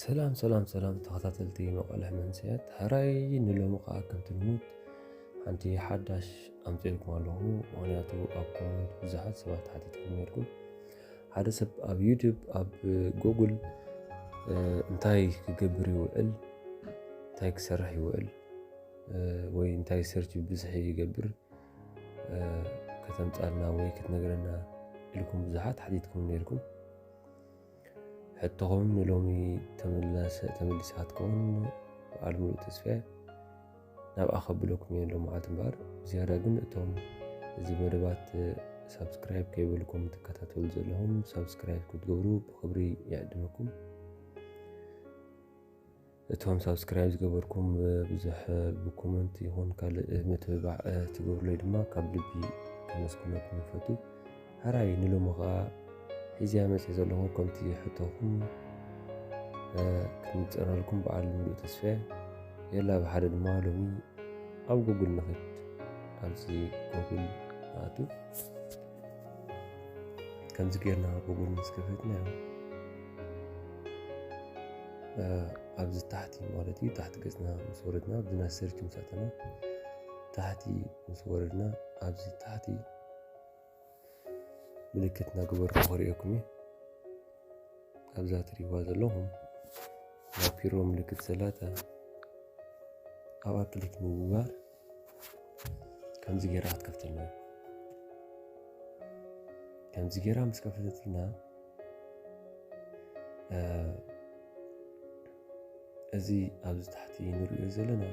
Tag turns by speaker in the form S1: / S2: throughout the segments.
S1: ሰላም ሰላም ሰላም ተኸታተልቲ መቐልሕ መንስያት ሃራይ ንሎሚ ከዓ ከምቲ ልሙድ ሓንቲ ሓዳሽ ኣምፅልኩም ኣለኹ ምክንያቱ ኣብ ኮመንት ብዙሓት ሰባት ሓቲትኩም ነርኩም ሓደ ሰብ ኣብ ዩቱብ ኣብ ጎግል እንታይ ክገብር ይውዕል እንታይ ክሰርሕ ይውዕል ወይ እንታይ ሰርች ብዝሒ ይገብር ከተምፃልና ወይ ክትነግረና ኢልኩም ብዙሓት ሓቲትኩም ነርኩም ሕቶኹም ንሎሚ ተመሊሳ ትከውን በዓል ሙሉእ ተስፋ ናብኣ ከብለኩም እየ ሎምዓልቲ እምበኣር ብዝያዳ ግን እቶም እዚ መደባት ሳብስክራይብ ከይበልኩም ትከታተሉ ዘለኹም ሳብስክራይብ ክትገብሩ ብክብሪ ይዕድመኩም እቶም ሳብስክራይብ ዝገበርኩም ብዙሕ ብኮመንት ይኹን ካልእ ምትብባዕ ትገብሩለይ ድማ ካብ ልቢ ከመስግነኩም ይፈቱ ሕራይ ንሎሚ ከኣ ሒዘያ መጺኤ ዘለኹ ከምቲ ሕቶኹም ክንጽረልኩም በዓል ምሉእ ተስፈየ የላ ብሓደ ድማ ሎሚ ኣብ ጉግል ንኽድ ኣብዚ ጉግል ንኣቱ ከምዚ ጌርና ጉግል ምስ ከፈትና ኣብዚ ታሕቲ ማለት እዩ ታሕቲ ገጽና ምስ ወረድና ኣብዚ ናይ ሰርች ምስ ኣተና ታሕቲ ምስ ወረድና ኣብዚ ታሕቲ ምልክት እናገበርኩ ክሪኦኩም እየ ኣብዛ ትሪእዋ ዘለኹም ናይ ፒሮ ምልክት ዘላታ ኣብኣ ክሊክ ንምግባር ከምዚ ጌራ ክትከፍተልና ከምዚ ጌራ ምስ ከፈተትና እዚ ኣብዚ ታሕቲ ንሪኦ ዘለና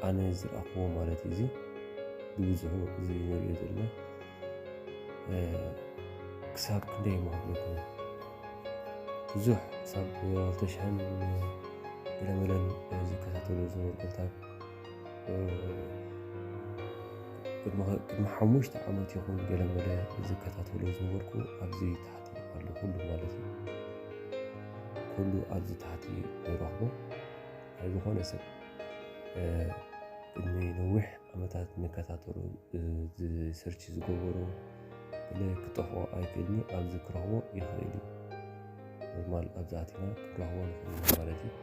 S1: ኣነ ዝረኣኽዎ ማለት እዩ እዚ ብብዝሑ እዚ ንሪኦ ዘለና ክሳብ ክንደይ ማህለኩም ብዙሕ ክሳብ ክልተሽሕን ገለመለን ዝከታተሉ ዝነበሩ ክልታት ቅድሚ ሓሙሽተ ዓመት ይኹን ገለመለ ዝከታተሉ ዝነበርኩ ኣብዚ ታሕቲ ኣሎ ኩሉ ማለት እዩ ኩሉ ኣብዚ ታሕቲ ንረኽቦ ናይ ዝኾነ ሰብ ቅድሚ ነዊሕ ዓመታት ንከታተሉ ዝሰርች ዝገበሩ ብለ ክጠፍኦ ኣይክእልኒ ኣብዚ ክረኽቦ ይኽእል እዩ ኖርማል ኣብዚ ኣቲና ክንረኽቦ ንኽእል ማለት እዩ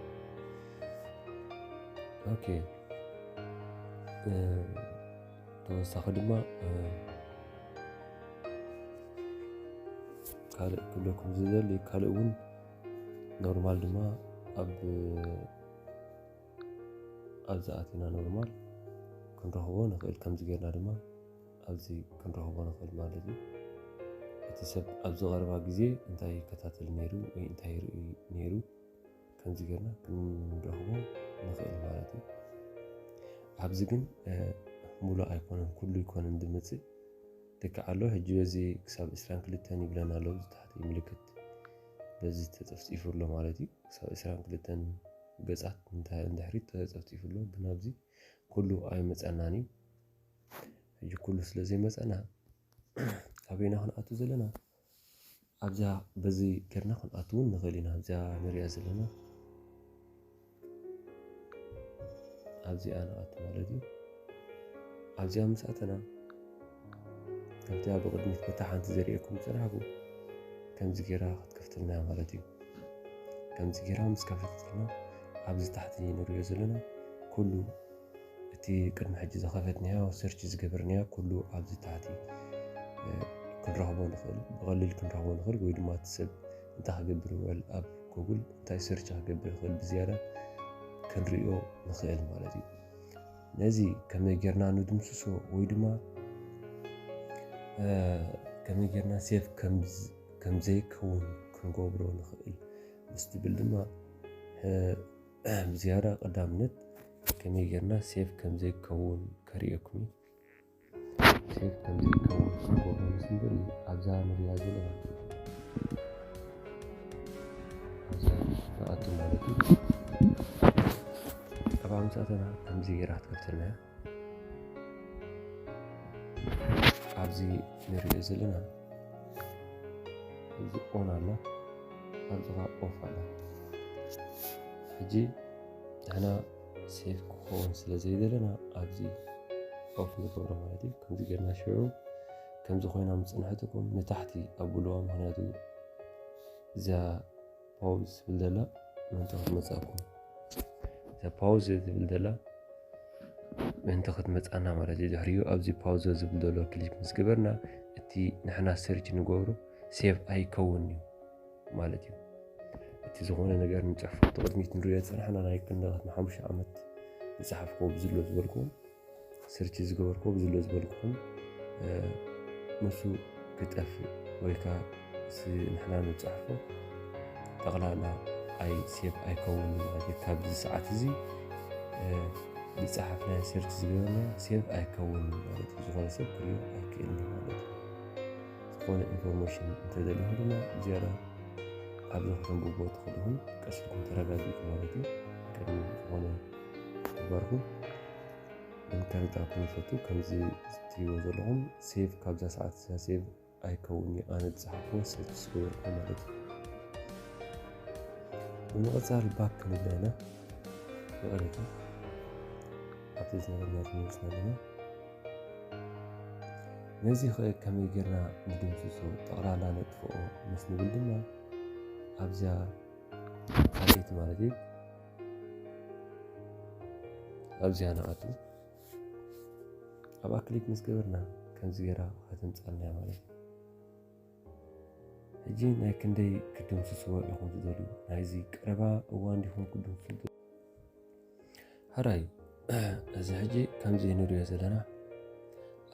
S1: ኦኬ ተወሳኺ ድማ ካልእ ክብለኩም ዝደሊ ካልእ እውን ኖርማል ድማ ኣብ ኣብዚ ኣቲና ኖርማል ክንረኽቦ ንኽእል ከምዚ ጌርና ድማ ኣብዚ ክንረኽቦ ንኽእል ማለት እዩ እቲ ሰብ ኣብዚ ቀረባ ግዜ እንታይ ይከታተል ነይሩ ወይ እንታይ ይርኢ ነይሩ ከምዚ ጌርና ክንረኽቦ ንኽእል ማለት እዩ ኣብዚ ግን ሙሉእ ኣይኮነን ኩሉ ይኮነን ዝመፅእ ተካኣሎ ሕጂ በዚ ክሳብ ዕስራን ክልተን ይብለን ኣሎ ኣብዚ ታሕቲ ምልክት በዚ ተጸፍጺፉ ኣሎ ማለት እዩ ክሳብ ዕስራን ክልተን ገጻት ንድሕሪት ተጸፍጺፉ ኣሎ ግን ኣብዚ ኩሉ ኣይመጸናን እዩ ሕጂ ኩሉ ስለ ዘይመጸና ኣበይና ክንኣቱ ዘለና ኣብዛ በዚ ጌርና ክንኣቱ እውን ንኽእል ኢና ኣብዚኣ ንሪኣ ዘለና ኣብዚኣ ንኣቱ ማለት እዩ ኣብዚኣ ምስ ኣተና ከምቲ ኣብ ቅድሚት በታ ሓንቲ ዘርእየኩም ዝጸናሕኩ ከምዚ ጌራ ክትከፍተልና እያ ማለት እዩ ከምዚ ጌራ ምስ ከፈተትና ኣብዚ ታሕቲ ንሪኦ ዘለና ኩሉ እቲ ቅድሚ ሕጂ ዝኸፈትናዮ ሰርች ዝገበርናዮ ኩሉ ኣብዚ ታሕቲ ክንረኽቦ ንኽእል ብቐሊል ክንረኽቦ ንኽእል ወይ ድማ እቲ ሰብ እንታይ ክገብር ይውዕል ኣብ ጎግል እንታይ ሰርች ክገብር ይኽእል ብዝያዳ ክንሪኦ ንኽእል ማለት እዩ ነዚ ከመይ ጌርና ንድምስሶ ወይ ድማ ከመይ ጌርና ሴፍ ከም ዘይከውን ክንገብሮ ንኽእል ምስ ትብል ድማ ብዝያዳ ቀዳምነት ከመይ ጌርና ሴፍ ከም ዘይከውን ከርእየኩም እዩ ሴፍ ከም ዘይከውን ክገብሩ ምስንብል ኣብዛ ንሪያ ዘለና ኣብዛ ንኣቱ ማለት እዩ ጠባ ምሳተና ከምዚ ጌራ ትከፍተልና እያ ኣብዚ ንሪኦ ዘለና እዚ ኦን ኣሎ ኣብዚ ከዓ ኦፍ ኣሎ ሕጂ ንሕና ሴፍ ክኸውን ስለ ዘይደለና ኣብዚ ኦፍ ንገብሮ ማለት እዩ ከምዚ ገርና ሽዑ ከምዚ ኮይና ምፅንሐትኩም ንታሕቲ ኣብልዋ ምክንያቱ እዛ ፓውዝ ትብል ዘላ ምእንቲ ክትመፅኣኩም እዛ ፓውዝ ትብል ዘላ ምእንቲ ክትመፅኣና ማለት እዩ ድሕሪኡ ኣብዚ ፓውዘ ዝብል ዘሎ ክሊክ ምስ ገበርና እቲ ንሕና ሰርች ንገብሮ ሴቭ ኣይከውን እዩ ማለት እዩ እቲ ዝኾነ ነገር ንፅሕፎ እቲ ቅድሚት ንሪኦ ዝፀናሕና ናይ ክንደት ንሓሙሽተ ዓመት ዝፀሓፍኩዎ ብዝሎ ዝበልኩዎም ስርቺ ዝገበርኩ ብዝሎ ዝበልኩኹም ንሱ ክጠፍእ ወይ ከዓ ንሕና ንፅሕፎ ጠቕላላ ኣይ ሴፍ ኣይከውን ማለት እዩ ካብዚ ሰዓት እዚ ዝፀሓፍናዮ ሰርች ዝገበርና ሴቭ ኣይከውን ማለት እዩ ዝኾነ ሰብ ክሪኦ ኣይክእልን ማለት እዩ ዝኾነ ኢንፎርሜሽን እንተዘለኹ ድማ ዝያዳ ኣብዚ ከተንብብዎ ትኽእልኹም ቀሲልኩም ተረጋጊጡ ማለት እዩ ቅድሚ ዝኾነ ግበርኩም ኢንተርነት ኣፕ ንፈቱ ከምዚ ዝትሪዎ ዘለኹም ሴቭ ካብዛ ሰዓት እዛ ሴቭ ኣይከውን እዩ ኣነ ዝፀሓፍኩ ሰች ዝገበርኩ ማለት እዩ ብምቕፃል ባክ ክንብለ ኢና ይቕሬታ ኣብቲ ዝነበርና ተመልስና ኣለና ነዚ ኸ ከመይ ጌርና ንድምስሶ ጠቕላላ ነጥፍኦ ምስ ንብል ድማ ኣብዛ ካልኤት ማለት እዩ ኣብዚኣ ንኣቱ ኣብኣ ክሊክ ምስ ገበርና ከምዚ ገይራ ከተምፃልና እያ ማለት እዩ ሕጂ ናይ ክንደይ ክድምስስዎ ኢኹም ትደልዩ ናይዚ ቀረባ እዋን ዲኹም ክድምሱ ሕራይ እዚ ሕጂ ከምዚ ንሪኦ ዘለና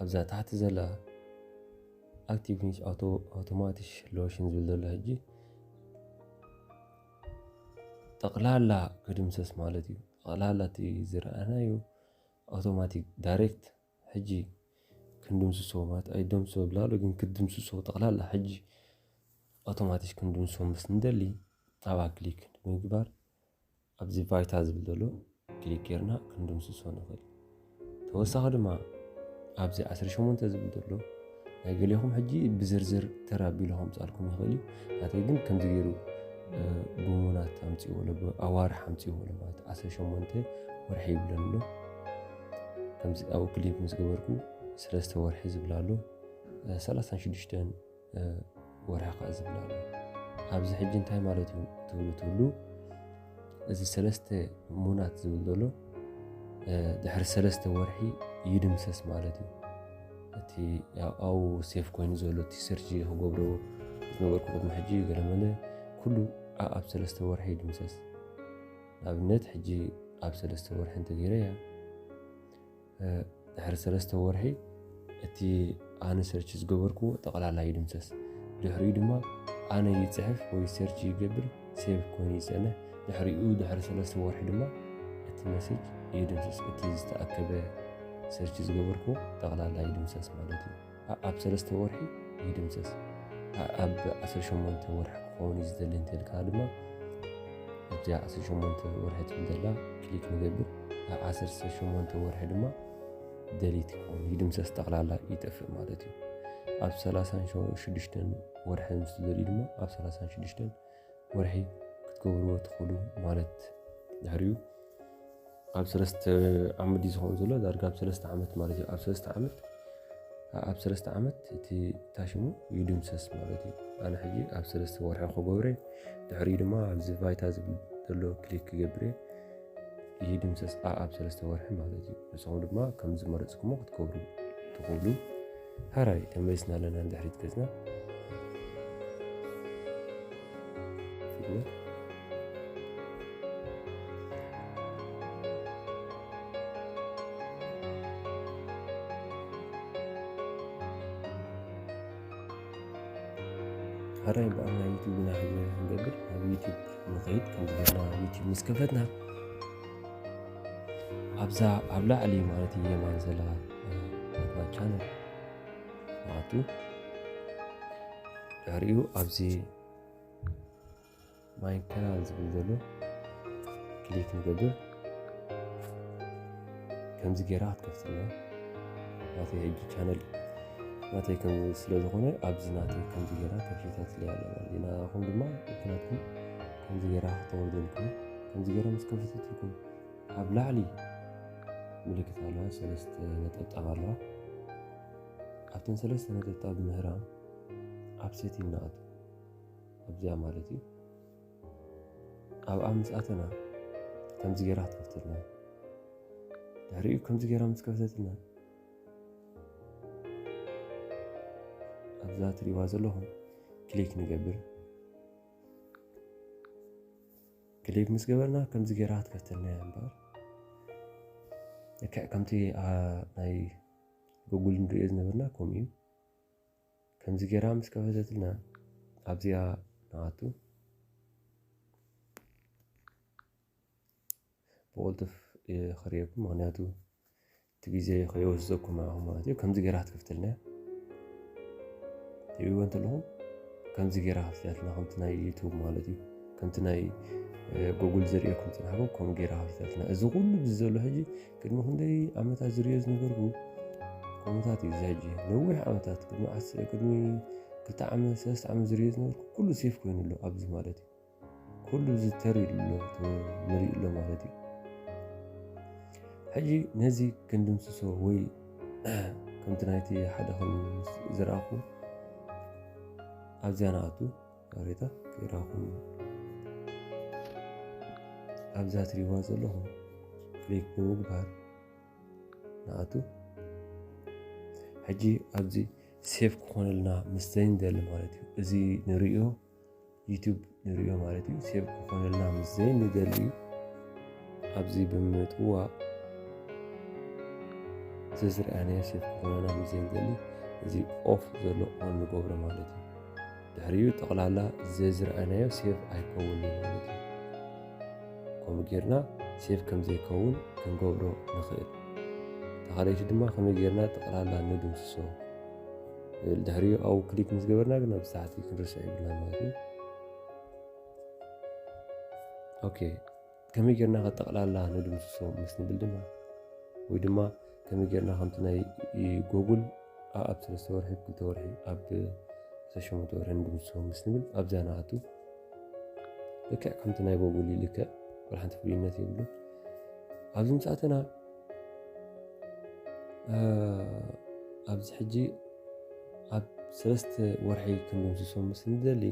S1: ኣብዛ ታሕቲ ዘላ ኣክቲቭ ኣውቶማቲሽ ሎሽን ዝብል ዘሎ ሕጂ ጠቕላላ ክድምሰስ ማለት እዩ። ጠቕላላ እቲ ዝረኣናዮ ኣውቶማቲክ ዳይሬክት ሕጂ ክንድምስሶ ማለት ኣይትደምስሶ ዝብልናሎ ግን ክትድምስሶ ጠቕላላ ሕጂ ኣውቶማቲክ ክንድምስሶ ምስ እንደሊ ኣብኣ ክሊክ ብምግባር ኣብዚ ባይታ ዝብል ዘሎ፣ ክሊክ ጌርና ክንድምስሶ ንኽእል ተወሳኺ ድማ ኣብዚ 18 ዝብል ዘሎ ናይ ገሌኹም ሕጂ ብዝርዝር ተር ኣቢሉ ከምፃልኩም ይኽእል እዩ ናተይ ግን ከምዚ ገይሩ ብሙናት ኣምፅዎ ኣዋርሕ ኣምፅዎ ማለት 18 ወርሒ ይብለን ኣሎ ከምዚ ኣብኡ ክሊክ ምስ ገበርኩ ሰለስተ ወርሒ ዝብላ ኣሎ 36 ወርሒ ከኣ ዝብል ኣሎ ኣብዚ ሕጂ እንታይ ማለት እዩ ትብሉ ትብሉ እዚ ሰለስተ ሙናት ዝብል ዘሎ ድሕሪ ሰለስተ ወርሒ ይድምሰስ ማለት እዩ እቲ ኣብኡ ሴፍ ኮይኑ ዘሎ እቲ ሰርጂ ክገብሮ ዝነበርኩ ቅድሚ ሕጂ ገለመለ ኩሉ ኣብ ሰለስተ ወርሒ ይድምሰስ ንኣብነት ሕጂ ኣብ ሰለስተ ወርሒ እንተገይረ እያ ድሕሪ ሰለስተ ወርሒ እቲ ኣነ ሰርች ዝገበርኩዎ ጠቕላላ ይድምሰስ ድሕሪኡ ድማ ኣነ ይፅሕፍ ወይ ሰርች ይገብር ሴቭ ኮይኑ ይፀንሕ ድሕሪኡ ድሕሪ ሰለስተ ወርሒ ድማ እቲ መሴጅ ይድምሰስ እቲ ዝተኣከበ ሰርች ዝገበርኩዎ ጠቕላላ ይድምሰስ ማለት እዩ ኣኣብ ሰለስተ ወርሒ ይድምሰስ ኣኣብ ዓሰርተ ሸሞንተ ወርሒ ክኸውን እዩ ዝደሊ እንተልካ ድማ ኣብዚኣ ዓሰርተ ሸሞንተ ወርሒ ትብል ዘላ ክሊክ ንገብር ኣብ ዓሰርተ ሸሞንተ ወርሒ ድማ ደሊት ይኸውን ይድምሰስ ጠቕላላ ይጠፍእ ማለት እዩ ኣብ ሰላሳን ሽዱሽተን ወርሒ ምስ ዝደልዩ ድማ ኣብ ሰላሳን ሽዱሽተን ወርሒ ክትገብርዎ ትኽእሉ ማለት ድሕሪኡ ኣብ ሰለስተ ዓመት እዩ ዝኸውን ዘሎ ዳርጋ ኣብ ሰለስተ ዓመት ማለት እዩ ኣብ ሰለስተ ዓመት ኣብ ሰለስተ ዓመት እቲ ታሽሙ ይድምሰስ ማለት እዩ ኣነ ሕጂ ኣብ ሰለስተ ወርሒ ክገብረ ድሕሪኡ ድማ ኣብዚ ቫይታ ዝብል ዘሎ ክሊክ ክገብረ ይድምሰስ ኣብ ሰለስተ ወርሒ ማለት እዩ ንስኹም ድማ ከም ዝመረፅኩሞ ክትገብሩ ትኽእሉ ሐራይ ተመሊስና ኣለና ንድሕሪት ገጽና ሐራይ በኣል ናይ ዩቱብ ኢና ክንገብር ናብ ዩቱብ ንኸይድ ከምዝገና ዩቱብ ምስ ከፈትና ኣብዛ ኣብ ላዕሊ ማለት እዩ የማን ዘላ ናትና ቻነል ንኣቱ ድሕሪኡ ኣብዚ ማይ ካናል ዝብል ዘሎ ክሊክ ንገብር ከምዚ ጌራ ክትከፍትና ናተይ ሕጂ ቻነል ናተይ ከም ስለ ዝኾነ ኣብዚ ናተይ ከምዚ ጌራ ከፊታትለያ ኣለና ናኹም ድማ ምክንያትኩም ከምዚ ገይራ ከተወርደልኩም ከምዚ ገይራ ምስ ከፈተትልኩም ኣብ ላዕሊ ምልክት ኣለዋ ሰለስተ ነጠብጣብ ኣለዋ ኣብተን ሰለስተ ነጠብጣብ ምህራም ኣብ ሴቲንግ ንኣቱ ኣብዚኣ ማለት እዩ ኣብኣ ምስ ኣተና ከምዚ ገይራ ክትከፍተልና ድሕሪኡ ከምዚ ገይራ ምስ ከፍተትና ኣብዛ ትሪእዋ ዘለኹም ክሊክ ንገብር ክሊብ ምስ ገበርና ከምዚ ገይራ ክትፈትነያ እምበር ልክዕ ከምቲ ናይ ጉጉል ንሪኦ ዝነበርና ከምኡ እዩ ከምዚ ገይራ ምስ ከፈተትልና ኣብዚኣ ንኣቱ ብቕልጡፍ ይኸርየኩም ምክንያቱ እቲ ግዜ ከይወስደኩም ንዓኹም ማለት እዩ ከምዚ ገይራ ክትከፍተልና እያ ትብልዎ እንተለኹም ከምዚ ገይራ ከፍትያትና ከምቲ ናይ ዩቱብ ማለት እዩ ከምቲ ናይ ጉግል ዝርእየኩም ፅናሕኩም ከምኡ ገይራ ከፍትያትና እዚ ኩሉ እዚ ዘሎ ሕጂ ቅድሚ ክንደይ ዓመታት ዝርዮ ዝነበርኩ ከምታት እዩ እዚ ሕጂ ነዊሕ ዓመታት ቅድሚ ቅድሚ ክልተ ዓመት ሰለስተ ዓመት ዝርዮ ዝነበርኩ ኩሉ ሴፍ ኮይኑ ኣሎ ኣብዚ ማለት እዩ ኩሉ ዝተርዩ ኣሎ ንርኢ ኣሎ ማለት እዩ ሕጂ ነዚ ክንድምስሶ ወይ ከምቲ ናይቲ ሓደ ከም ዝረኣኹ ኣብዚያ ንኣቱ ሬታ ክራኹም ኣብዛ ትሪዋ ዘለኹም ክሊክ ብምግባር ንኣቱ ሕጂ ኣብዚ ሴፍ ክኾነልና ምስ ዘይንደሊ ማለት እዩ እዚ ንሪኦ ዩቱብ ንሪኦ ማለት እዩ ሴብ ክኾነልና ምስ ዘይንደሊ ኣብዚ ብምጥዋ ዘዝርኣናዮ ሴብ ክኾነና ምስ ዘይንደሊ እዚ ኦፍ ዘሎ ኦን ንገብሮ ማለት እዩ ድሕሪኡ ጠቕላላ ዘዝርኣናዮ ሴብ ኣይከውን እዩ ማለት እዩ ከምኡ ጌርና ሴብ ከም ዘይከውን ክንገብሮ ንኽእል ተኻለይቲ ድማ ከመይ ጌርና ጠቕላላ ንድምስሶ ድሕሪኡ ኣብኡ ክሊክ ምስ ገበርና ግን ኣብዚ ታሕቲ ክንርስዕ ይብልና ማለት እዩ ኦኬ ከመይ ጌርና ከጠቕላላ ንድምስሶ ምስ ንብል ድማ ወይ ድማ ከመይ ጌርና ከምቲ ናይ ጎጉል ኣብ ሰለስተ ወርሒ ክልተ ወርሒ ኣብ ሰሸመተ ወርሒ ንድምስሶ ምስ ንብል ኣብዛ ንኣቱ ልክዕ ከምቲ ናይ ጎጉል ይልክዕ ብርሓንቲ ፍሉይነት የብሉን ኣብዚ ምሳእትና ኣብዚ ሕጂ ኣብ ሰለስተ ወርሒ ክንድምስሶ ምስ ንደሊ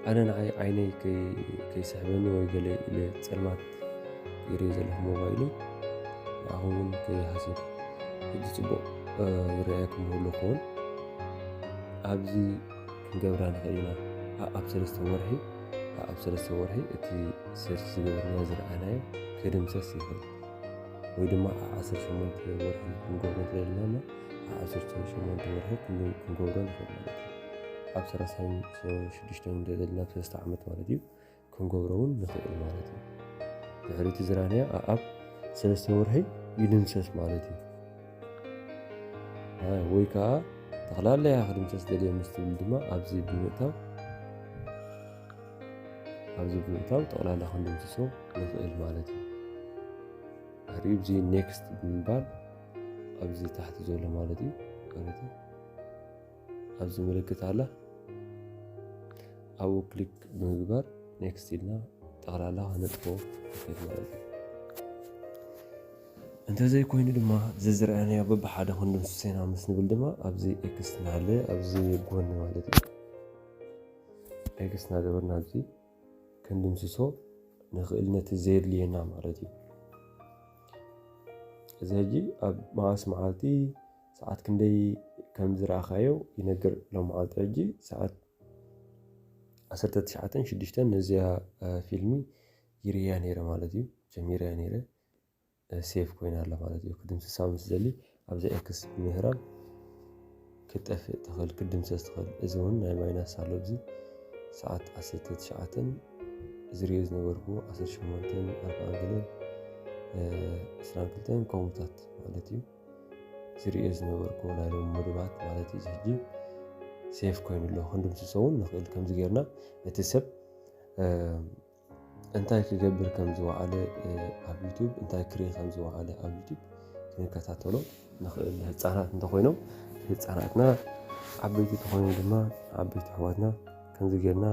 S1: ኣነ ንዓይ ዓይነይ ከይስሕበኒ ወይ ገለ ኢለ ፀልማት ይርኢ ዘለኹ ሞባይሉ ንዓኹም እውን ከይሃስብ ሕጂ ፅቡቕ ይረኣየኩም ኣለኹ እውን ኣብዚ ክንገብራ ንኽእል ኢና። ኣኣብ ሰለስተ ወርሒ ኣኣብ ሰለስተ ወርሒ እቲ ሰርች ዝገበርናዮ ዝረኣናዮ ክድምሰስ ይኽእል ወይ ድማ ኣብ ዓሰርተ ሸሞንተ ወርሒ ክንገብሮ እንተደለና እሞ ኣብ ዓሰርተ ሸሞንተ ወርሒ ክንገብሮ ንኽእል ማለት እዩ። ኣብ ሰላሳን ሽዱሽተን እንተደለና ሰለስተ ዓመት ማለት እዩ። ክንገብሮ እውን ንኽእል ማለት እዩ። ድሕሪ እቲ ዝራእናዮ ኣኣብ ሰለስተ ወርሒ ይድምሰስ ማለት እዩ። ወይ ከዓ ጠቕላላያ ክድምሰስ ደልየ ምስ ትብል ድማ ኣብዚ ብምእታው ኣብዚ ብምእታው ጠቕላላ ክንድምስሶ ንኽእል ማለት እዩ። ድሕሪኡ እዚ ኔክስት ብምባል ኣብዚ ታሕቲ ዘሎ ማለት እዩ ማለት እዩ። ኣብዚ ምልክት ኣላ ኣብኡ ክሊክ ብምግባር ኔክስት ኢልና ጠቕላላ ክነጥፎ ንኽእል ማለት እዩ እንተዘይኮይኑ ድማ ዘዝረኣናዮ በብሓደ ክንድምስሶ ኢና ምስ ንብል ድማ ኣብዚ ኤክስ ናለ ኣብዚ ጎኒ ማለት እዩ ኤክስ ናገበርና ኣብዚ ክንድምስሶ ንኽእል ነቲ ዘየድልየና ማለት እዩ እዚ ሕጂ ኣብ መዓስ መዓልቲ ሰዓት ክንደይ ከም ዝረኣኻዮ ይነግር ሎምዓልቲ ሕጂ ሰዓት ዓሰርተ ትሽዓተን ሽዱሽተን ነዚኣ ፊልሚ ይርእያ ነይረ ማለት እዩ ጀሚረያ ነይረ ሴፍ ኮይና ኣላ ማለት እዩ ክድምስሳ ምስ ዘሊ ኣብዚ ኤክስ ምህራም ክጠፍእ ትኽእል ክድምሰስ ትኽእል እዚ እውን ናይ ማይናስ ኣሎ እዚ ሰዓት ዓሰርተ ትሽዓተን ዝርዮ ዝነበርኩ ዓሰርተ ሸሞንተን ኣርባዓን ገለን እስራን ክልተን ከምኡታት ማለት እዩ ዝርእዮ ዝነበርኩ ናይ ሎሚ መደባት ማለት እዩ ሕጂ ሴፍ ኮይኑ ኣሎ ክንድምስሶ እውን ንኽእል ከምዚ ጌርና እቲ ሰብ እንታይ ክገብር ከም ዝወዓለ ኣብ ዩቱብ እንታይ ክርኢ ከም ዝወዓለ ኣብ ዩቱብ ክንከታተሎ ንኽእል ህፃናት እንተኮይኖም ህፃናትና ዓበይቲ ተኮይኖም ድማ ዓበይቲ ኣሕዋትና ከምዚ ጌርና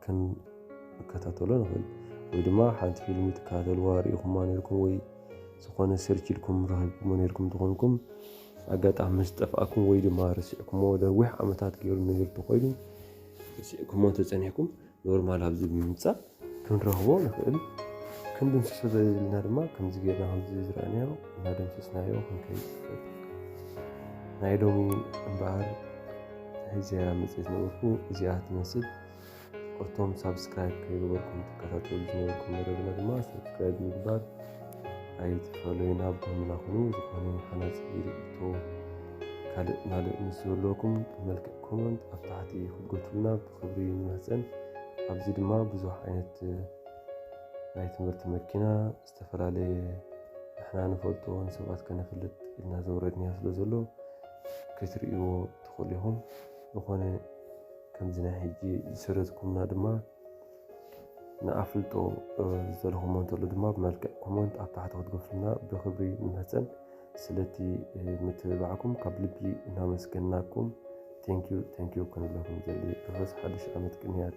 S1: ክንከታተሎ ንኽእል ወይ ድማ ሓንቲ ፊልሚ ትከታተልዋ ርኢኹማ ነርኩም ወይ ዝኾነ ሰርች ኢልኩም ረኺብኩሞ ነርኩም ትኾንኩም ኣጋጣሚ ምስ ጠፍኣኩም ወይ ድማ ርስዕኩሞ ነዊሕ ዓመታት ገይሩ ነገር ተኾይኑ ርስዕኩሞ ተፀኒሕኩም ኖርማል ኣብዚ ብምምፃእ ክንረኽቦ ንኽእል ክንድምስሶ ዘለና ድማ ከምዚ ጌርና ከምዚ ዝረኣናዮ እናደምሰስናዮ ክንከይድ ናይ ሎሚ እምበኣር እዚኣ መጽሔት ነበርኩ እዚኣ ትመስል እቶም ሳብስክራይብ ከይገበርኩም ትከታተሉ ዝነበርኩም መደብና ድማ ሳብስክራይብ ምግባር ኣይትፈለዩና ብህምና ኩኑ ዝኾነ ሓናፂ ርኢቶ ካልእ ማልእ ምስ ዘለኩም ብመልክዕ ኮመንት ኣብ ታሕቲ ክትጎትሉና ብክብሪ ንማህፀን ኣብዚ ድማ ብዙሕ ዓይነት ናይ ትምህርቲ መኪና ዝተፈላለየ ንሕና ንፈልጦ ንሰባት ከነፍልጥ ኢልና ዘውረድንዮ ስለ ዘሎ ክትርእይዎ ትኽእሉ ኢኹም። ዝኾነ ከምዚ ናይ ሕጂ ዝሰደድኩምና ድማ ንኣፍልጦ ዝደለኹሞ እንተሎ ድማ ብመልክዕ ኮመንት ኣብ ታሕቲ ክትገፍሉና ብክብሪ ንመጸን። ስለቲ ምትብባዕኩም ካብ ልቢ እናመስገናኩም ቴንኪዩ ቴንኪዩ ክንብለኩም ንደሊ። ርሑስ ሓድሽ ዓመት ቅንያት።